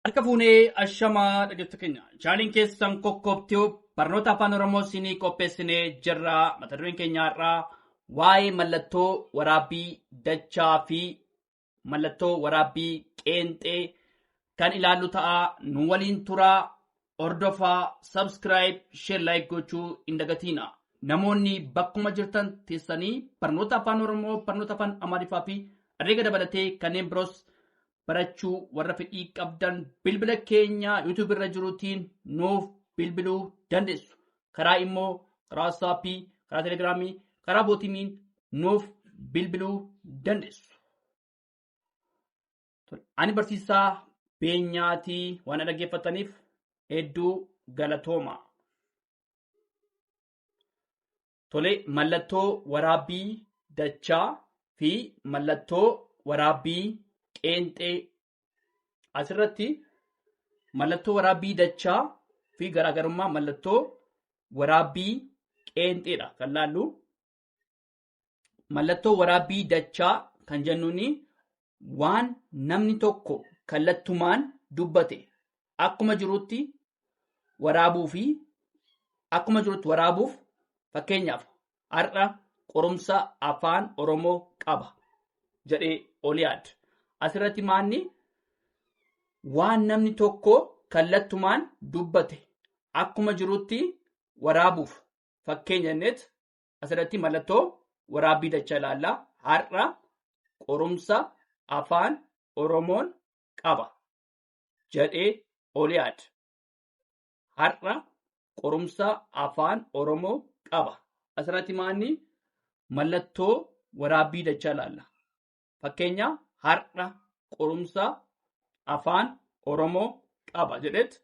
Harka fuunee ashamaa dhaggeeffattoota keenya. Chaanaliin keessan Kokkoob Tube barnoota afaan Oromoo siinii qopheessinee jirra. Mata dureen keenya har'aa waa'ee mallattoo waraabbii dachaa fi mallattoo waraabbii qeenxee kan ilaallu ta'a. Nu waliin turaa, hordofaa, subscribe, share, like gochuu hin dagatiina. Namoonni bakkuma jirtan teessanii barnoota afaan Oromoo, barnoota afaan Amaariffaa fi herreega dabalatee kanneen biroos barachuu warra fedhii qabdan bilbila keenya YouTube irra jirutiin nuuf bilbiluu dandeessu. Karaa immoo karaa WhatsApp, karaa Telegram, karaa bootimiin nuuf bilbiluu dandeessu. Ani barsiisaa beenyaatii waan dhaggeeffataniif hedduu galatooma. Tole mallattoo waraabbii dachaa fi mallattoo waraabbii qeenxee asirratti mallattoo waraabbii dachaa fi garaagarummaa mallattoo waraabbii qeenxeedha kan laallu. Mallattoo waraabbii dachaa kan jennuun waan namni tokko kallattumaan dubbate akkuma jirutti waraabuu fi akkuma jirutti waraabuuf fakkeenyaaf har'a qorumsa afaan oromoo qaba jedhee oliyaad asirratti maanni waan namni tokko kallattumaan dubbate akkuma jirutti waraabuuf fakkeenya jenneet Asirratti mallattoo waraabbii dachaa ilaalla. Har'a qorumsa afaan Oromoon qaba jedhee Oliyaad. Har'a qorumsa afaan Oromoo qaba. Asirratti maanni mallattoo waraabbii dachaa ilaalla. Fakkeenya har'a qorumsa afaan Oromoo qaba jedhetti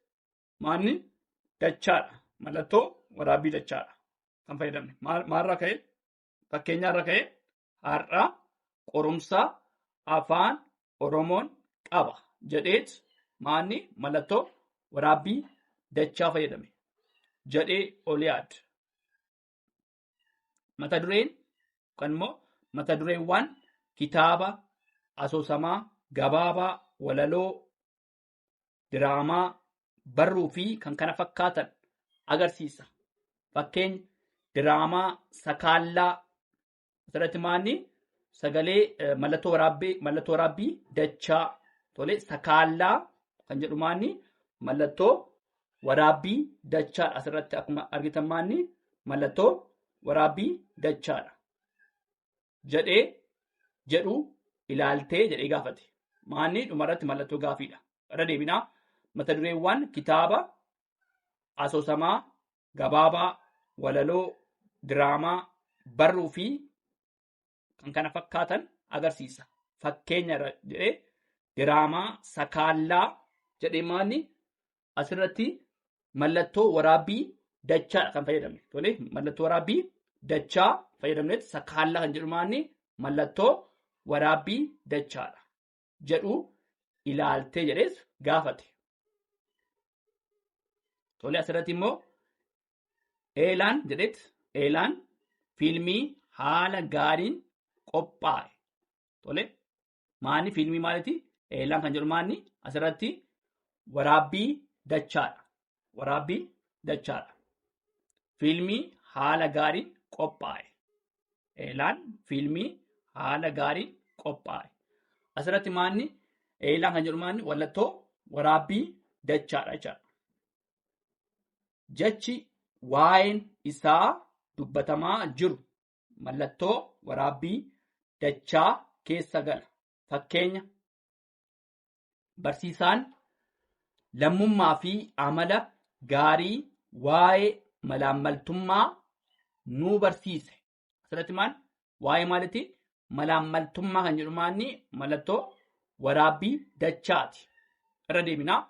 maanni dachaadha. Mallattoo waraabbii dachaadha. Kan fayyadamne maalirraa ka'e fakkeenyaarra ka'e har'a qorumsa afaan Oromoon qaba jedheet maanni mallattoo waraabbii dachaa fayyadame jedhee ol yaad. Mata dureen yookaan immoo mata dureewwan kitaaba asoosamaa gabaabaa walaloo diraamaa, barruu fi kan kana fakkaatan agarsiisa. Fakkeenya diraamaa sakaallaa asirratti maanni sagalee eh, mallattoo waraabbii mallattoo waraabbii dachaa tole sakaallaa kan jedhu maanni mallattoo waraabbii dachaadha asirratti akkuma argitan maanni mallattoo waraabbii dachaadha. jedhee jedhu ilaaltee jedhee gaafate. Maanni dhumarratti mallattoo gaafiidha. Irra deebinaa mata dureewwan kitaaba asoosamaa gabaabaa, walaloo, diraamaa, barruu fi kan kana fakkaatan agarsiisa. Fakkeenya irra jedhee diraamaa sakaallaa jedhee maanni asirratti mallattoo waraabbii dachaadha kan fayyadamne. Tole mallattoo waraabbii dachaa fayyadamnetti sakkaallaa kan jedhu maanni mallattoo waraabbii dachaadha jedhu ilaaltee jedhees gaafate. Tole asirratti immoo eelaan jedhetti eelaan fiilmii haala gaariin qophaa'e. Tole Maanni fiilmii maaliti? Eellaan kan jedhu maanni asirratti waraabbii dachaadha. Waraabbii dachaadha. Fiilmii haala gaariin qophaa'e. Eellaan fiilmii haala gaariin qophaa'e. Asirratti maanni eellaan kan jedhu maanni wallattoo waraabbii dachaadha jechaadha. Jechi waa'een isaa dubbatamaa jiru mallattoo waraabbii dachaa keessa gala. Fakkeenya barsiisaan lammummaa fi amala gaarii waa'ee malaammaltummaa nuu barsiise. Asirratti maal? Waa'ee maalitii? Malaammaltummaa kan jedhu maanni mallattoo waraabbii dachaati. Irra deebinaa.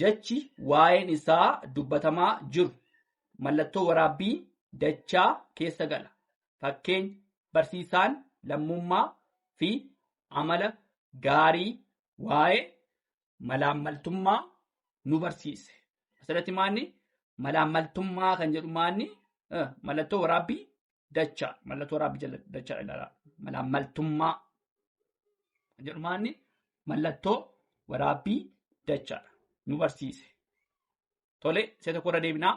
Jechi waa'een isaa dubbatamaa jiru mallattoo waraabbii dachaa keessa gala. Fakkeenya, barsiisaan lammummaa fi amala gaarii waa'ee malaammaltummaa nu barsiise. Asirratti maanni malaammaltummaa kan jedhu maanni mallattoo waraabbii dachaa mallattoo raabbi jala dachaa ilaalaa malaa maltummaa kan jedhu maanni mallattoo waraabbii dachaadha nu barsiise. Tole isa tokko irra deebinaa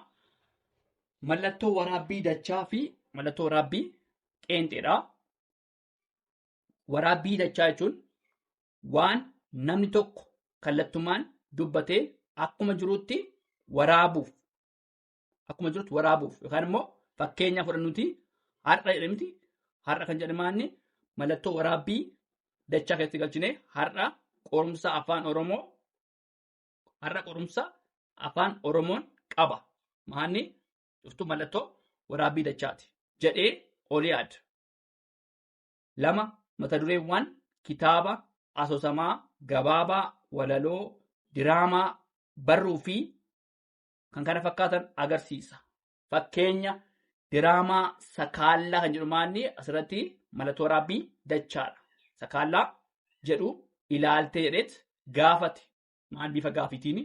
mallattoo waraabbii dachaa fi mallattoo waraabbii qeenxeedha. Waraabbii dachaa jechuun waan namni tokko kallattumaan dubbatee akkuma jirutti waraabuuf akkuma jirutti waraabuuf yookaan immoo fakkeenya fudhannuti har'a jedhe miti har'a kan jedhe maanni mallattoo waraabbii dachaa keessatti galchine har'a qorumsa afaan oromoo har'a qorumsa afaan oromoon qaba maanni cuftuu mallattoo waraabbii dachaati jedhee oliyaad lama mata dureewwan kitaaba asoosamaa gabaabaa walaloo diraamaa barruu fi kan kana fakkaatan agarsiisa. Fakkeenya diraamaa sakaallaa kan jedhu maanni asirratti mallattoo waraabbii dachaadha. Sakaallaa jedhu ilaaltee jedheet gaafate. Maal bifa gaafiitiin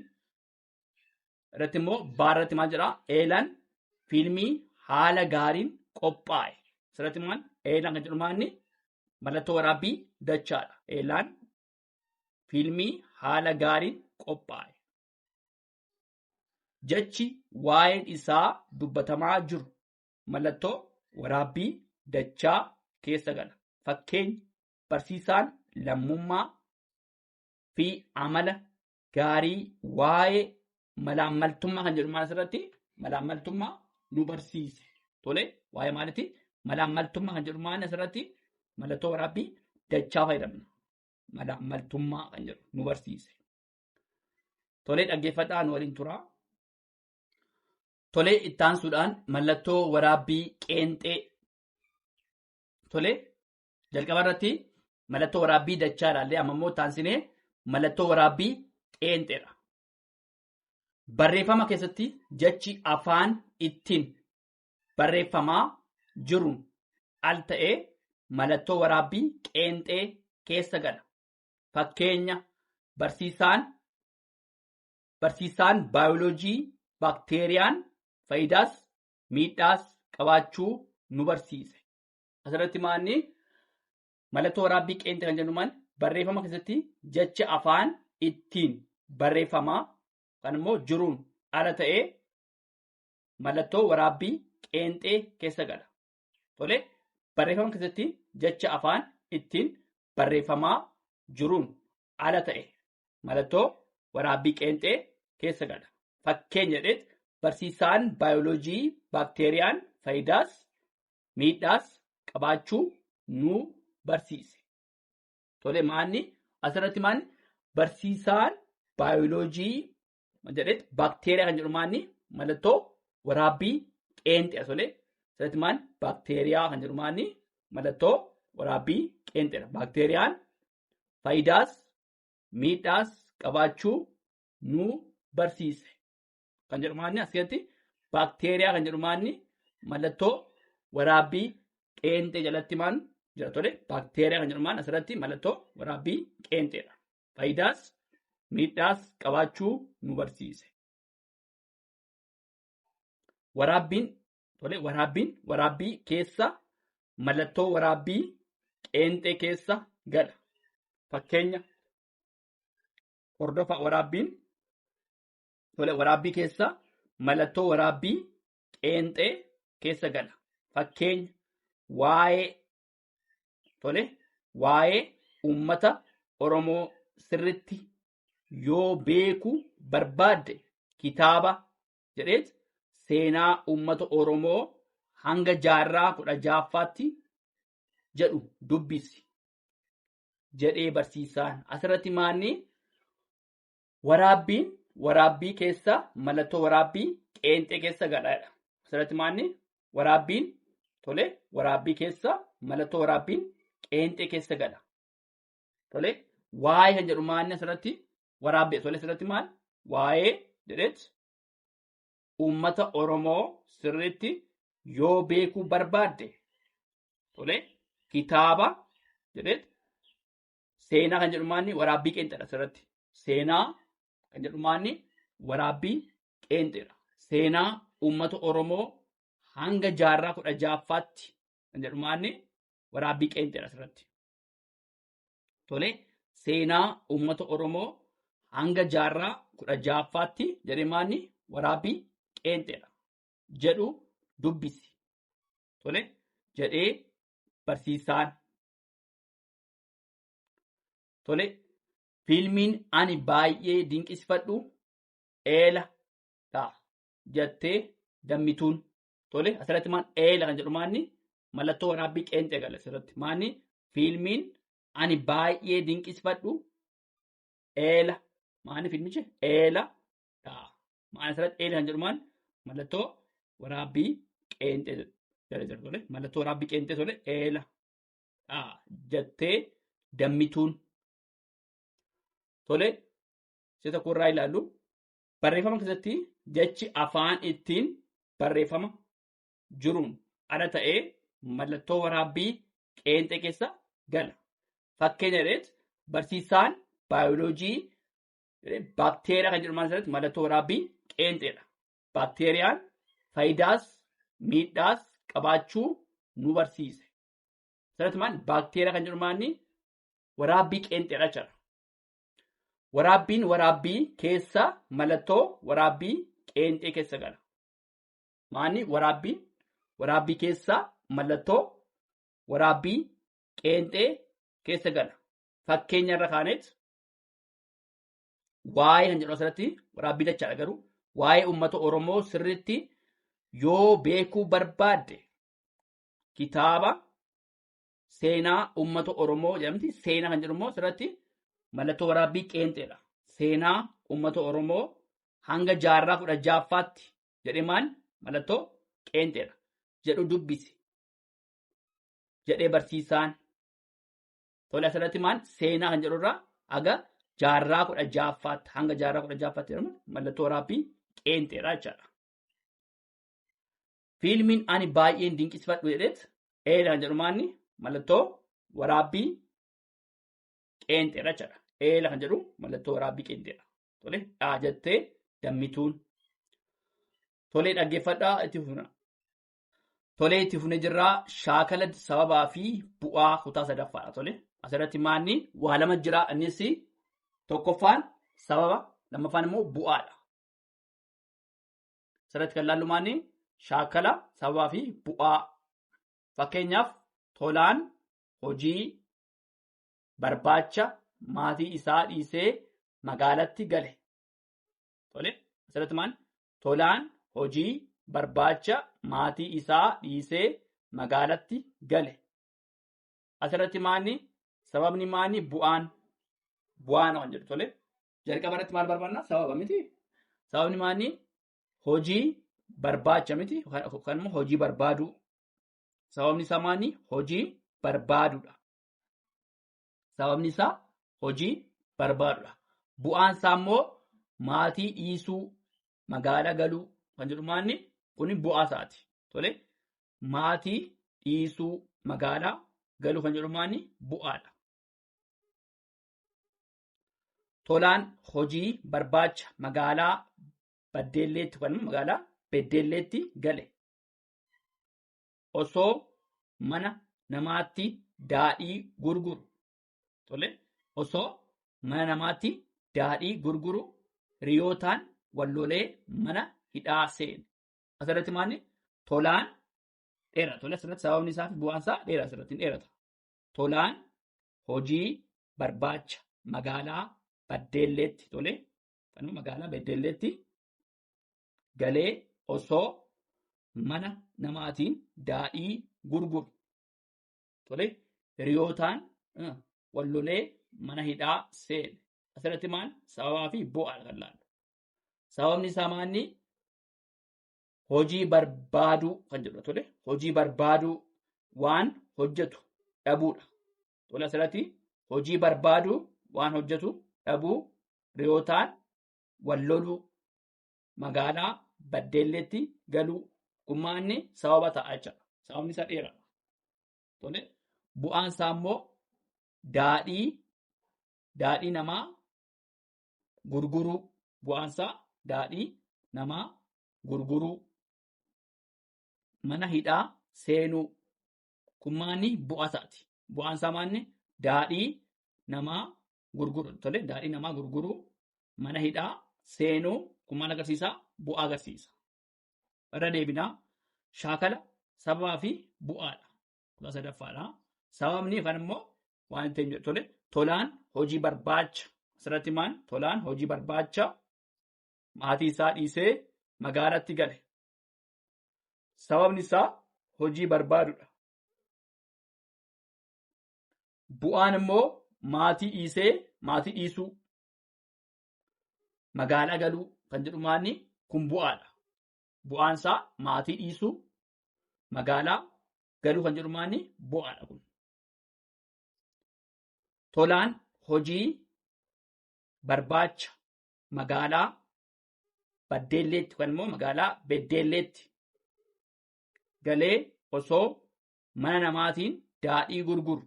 irratti immoo baarratti maal jedhaa eelan fiilmii haala gaariin qophaa'e. Asirratti maal eelan kan jedhu maanni mallattoo waraabbii dachaadha. Eelan fiilmii haala gaariin qophaa'e. Jechi waa'een isaa dubbatamaa jiru mallattoo waraabbii dachaa keessa gala. Fakkeenya barsiisaan lammummaa fi amala gaarii waa'ee malaammaltummaa kan jedhu maal asirratti malaammaltummaa nu barsiise. Tole waa'ee maaliti malaammaltummaa kan jedhu maal asirratti mallattoo waraabbii dachaa fayyadamna. Malaammaltummaa kan jedhu nu barsiise. Tolee dhaggeeffadhaa nu waliin turaa. Tolee ittaansuudhaan mallattoo waraabbii qeenxee. Tolee jalqaba irratti mallattoo waraabbii dachaa ilaallee amma immoo ittaansinee mallattoo waraabbii qeenxeedha. Barreeffama keessatti jechi afaan ittiin barreeffamaa jiruun al ta'ee mallattoo waraabbii qeenxee keessa gala. Fakkeenya barsiisaan barsiisaan baayoloojii baakteeriyaan faayidaas miidhaas qabaachuu nu barsiise. Asirratti maanni mallattoo waraabbii qeenxee kan jennu maal barreeffama keessatti jecha afaan ittiin barreeffamaa kan immoo jiruun ala ta'ee mallattoo waraabbii qeenxee keessa gala. Tole barreeffama keessatti jecha afaan ittiin barreeffamaa jiruun ala ta'e mallattoo waraabbii qeenxee keessa gala. Fakkeenya jedheet barsiisaan baayoloojii baakteeriyaan faayidaas miidhaas qabaachuu nu barsiise. Tole maanni asirratti maanni barsiisaan baayoloojii jedhetti baakteeriyaa kan jedhu maanni mallattoo waraabbii qeenxee solee sirriitti maan baakteeriyaa kan jedhu maanni mallattoo waraabbii qeenxeedha. Baakteeriyaan faayidaas miidhaas qabaachuu nu barsiise kan jedhu maanni as keessatti baakteeriyaa kan jedhu maanni mallattoo waraabbii qeenxee jalatti maan jira tole baakteeriyaa kan jedhu maan asirratti mallattoo waraabbii qeenxeedha. faayidaas miidhaas qabaachuu nu barsiise. Waraabbiin tole waraabbiin waraabbii keessa mallattoo waraabbii qeenxee keessa gala. Fakkeenya hordofa waraabbiin tole waraabbii keessa mallattoo waraabbii qeenxee keessa gala. Fakkeenya waa'ee Tole waa'ee uummata Oromoo sirritti yoo beeku barbaadde kitaaba jedheet seenaa uummata Oromoo hanga jaarraa kudha jaaffaatti jedhu dubbisi jedhee barsiisaan asirratti maanni Waraabbiin waraabbii keessa mallattoo waraabbii qeenxee keessa gadhaadha. Asirratti maanni waraabbiin tole waraabbii keessa mallattoo waraabbiin qeenxee keessa gadha. Tole waa'ee kan jedhu maanni asirratti waraabbii tole asirratti maal waa'ee jedheet uummata Oromoo sirriitti yoo beekuu barbaadde tole kitaaba jedheet Seenaa kan jedhu maanni waraabbii qeenxeedha asirratti. Seenaa kan jedhu maanni waraabbii qeenxeedha. Seenaa uummata Oromoo hanga jaarraa kudha ja'affaatti kan jedhu maanni waraabbii qeenxeedha asirratti. Tole seenaa uummata Oromoo hanga jaarraa kudha ja'affaatti jedhee maanni waraabbii qeenxeedha jedhu dubbisi. Tole jedhee barsiisaan Tole fiilmiin ani baay'ee dinqisifadhu eela dha jattee dammituun. Tole asirratti maal eela kan jedhu maanni mallattoo waraabbii qeenxee gala asirratti maanni fiilmiin ani baay'ee dinqisifadhu eela maanni fiilmichi eela dha. Maanni asirratti eela kan jedhu maanni mallattoo waraabbii qeenxee jala jira tole mallattoo waraabbii qeenxee tole eela dha jattee dammituun. Tole, isa tokko irraa ilaallu. Barreeffama keessatti jechi afaan ittiin barreeffama jiruun ala ta'ee mallattoo waraabbii qeenxee keessa gala. Fakkeenya jedheet barsiisaan baayoloojii baakteeriyaa kan jedhaman irratti mallattoo waraabbii qeenxeedha. Baakteeriyaan faayidaas miidhaas qabaachuu nu barsiise. Sanatti maal baakteeriyaa kan jedhu maanni waraabbii qeenxeedha jechuudha. Waraabbiin waraabbii keessa mallattoo waraabbii qeenxee keessa gala. Maanni waraabbiin waraabbii keessa mallattoo waraabbii qeenxee keessa gala. Fakkeenya irra kaaneet waa'ee kan jedhu asirratti waraabbii dachaadha garuu waa'ee uummata Oromoo sirriitti yoo beekuu barbaadde kitaaba seenaa uummata Oromoo jedhamti. Seenaa kan jedhu immoo asirratti mallattoo waraabbii qeenxeedha. Seenaa uummata Oromoo hanga jaarraa kudha jaaffaatti jedhee maal mallattoo qeenxeedha jedhu dubbisi jedhee barsiisaan. Tole asirratti maal seenaa kan jedhurraa haga jaarraa kudha jaaffaatti hanga jaarraa kudha jaaffaatti jedhamu mallattoo waraabbii qeenxeedha jechaadha. Fiilmiin ani baay'een dinqisifadhu jedheet eera kan jedhu maanni mallattoo waraabbii qeenxeedha jechuudha. Eera kan jedhu mallattoo waraabbii qeenxeedha. Tole dhaa jettee dammituun. Tolee dhaggeeffadhaa itti fufna. Tolee itti fufne jirraa shaakala sababaa fi bu'aa kutaa sadaffaadha. Tole asirratti maanni waa lama jira innis tokkoffaan sababa lammaffaan immoo bu'aadha. Asirratti kan ilaallu maanni shaakala sababaa fi bu'aa. Fakkeenyaaf tolaan hojii barbaacha maatii isaa dhiisee magaalatti gale. Tole asirratti maal tolaan hojii barbaacha maatii isaa dhiisee magaalatti gale. Asirratti maanni sababni maanni bu'aan bu'aan waan jedhu tole Jalqaba irratti maal barbaanna? Sababa miti. Sababni maanni hojii barbaacha miti yookaan immoo hojii barbaaduu. Sababni isaa maanni hojii barbaaduudha. Sababni isaa hojii barbaaduudha. Bu'aan isaa immoo maatii dhiisuu, magaalaa galuu kan jedhu maanni kun bu'aa isaati. Tole maatii dhiisuu, magaalaa galuu kan jedhu maanni bu'aadha. tolaan hojii barbaacha magaalaa Baddeelleetti yookaan immoo magaalaa Beddeelleetti gale. Osoo mana namaatti daadhii gurguru. Tole osoo mana namaatti daadhii gurguru hiriyootaan wallolee mana hidhaa seene. Asirratti maalni tolaan dheera. Tole asirratti sababni isaa fi bu'aan isaa dheera asirratti hin dheerata. Tolaan hojii barbaacha magaalaa Baddeelleetti tole kanuma magaalaa Baddeelleetti galee osoo mana namaatiin daadhii gurguru tole hiriyootaan eh, wal lolee mana hidhaa seene asirratti maal sababaa fi bu'aa kan laalu sababni isaa maanni hojii barbaaduu kan jedhu tole hojii barbaaduu waan hojjetu dhabuudha. Tole asirratti hojii barbaaduu waan hojjetu dhabuu riyootaan wal loluu magaalaa baddeelleetti galuu gummaanni sababa ta'a jechuudha. Sababni isa dheeraa. Tole bu'aan isaa immoo daadhii daadhii namaa gurguruu bu'aansaa daadhii namaa gurguruu mana hidhaa seenuu kun maanni bu'aa isaati. Bu'aan isaa maanni daadhii namaa gurguruu tole daadhii namaa gurguruu mana hidhaa seenuu kun maal agarsiisa bu'aa agarsiisa. Irra deebinaa shaakala sababaa fi bu'aadha. Kutaa sadaffaadha. Sababni yookaan immoo waan ta'e jedhu tole tolaan hojii barbaacha asirratti maan tolaan hojii barbaacha maatii isaa dhiisee magaalatti gale sababni isaa hojii barbaadudha bu'aan immoo maatii dhiisee maatii dhiisuu magaalaa galuu kan jedhu maanni kun bu'aadha bu'aan isaa maatii dhiisuu magaalaa galuu kan jedhu maanni bu'aadha kun Tolaan hojii barbaacha magaalaa Baddeelleetti yookaan immoo magaalaa Beddeelleetti galee osoo mana namaatiin daadhii gurguru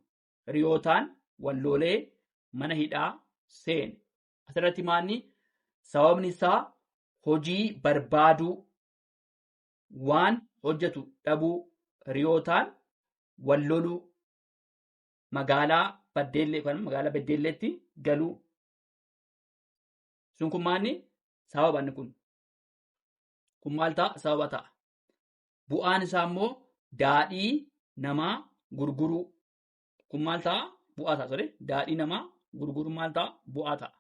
hiriyootaan walloolee mana hidhaa seene. Asirratti maanni sababni isaa hojii barbaaduu waan hojjetu dhabuu hiriyootaan wal loluu magaalaa baddeellee yookaan magaalaa beddeelleetti galuu sun kun maanni sababa inni kun kun maal ta'a sababa ta'a bu'aan isaa immoo daadhii namaa gurguruu kun maal ta'a bu'aa ta'a sore daadhii namaa gurguruu maal ta'a bu'aa ta'a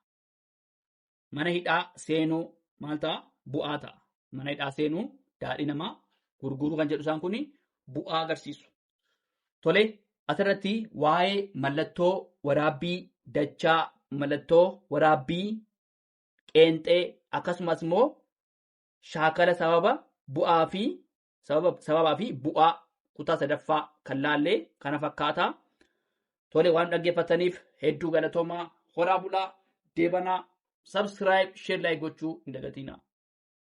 mana hidhaa seenuu maal ta'a? Bu'aa ta'a. Mana hidhaa seenuu daadhii namaa gurguruu kan jedhu isaan kun bu'aa agarsiisu. Tole asirratti waa'ee mallattoo waraabbii dachaa, mallattoo waraabbii qeenxee akkasumas immoo shaakala sababa bu'aa fi sababaa fi bu'aa kutaa sadaffaa kan laallee kana fakkaata. Tole waan dhaggeeffataniif hedduu galatoomaa horaa bulaa deebanaa sabskiraayib sheer laayik gochuu hin dagatinaa.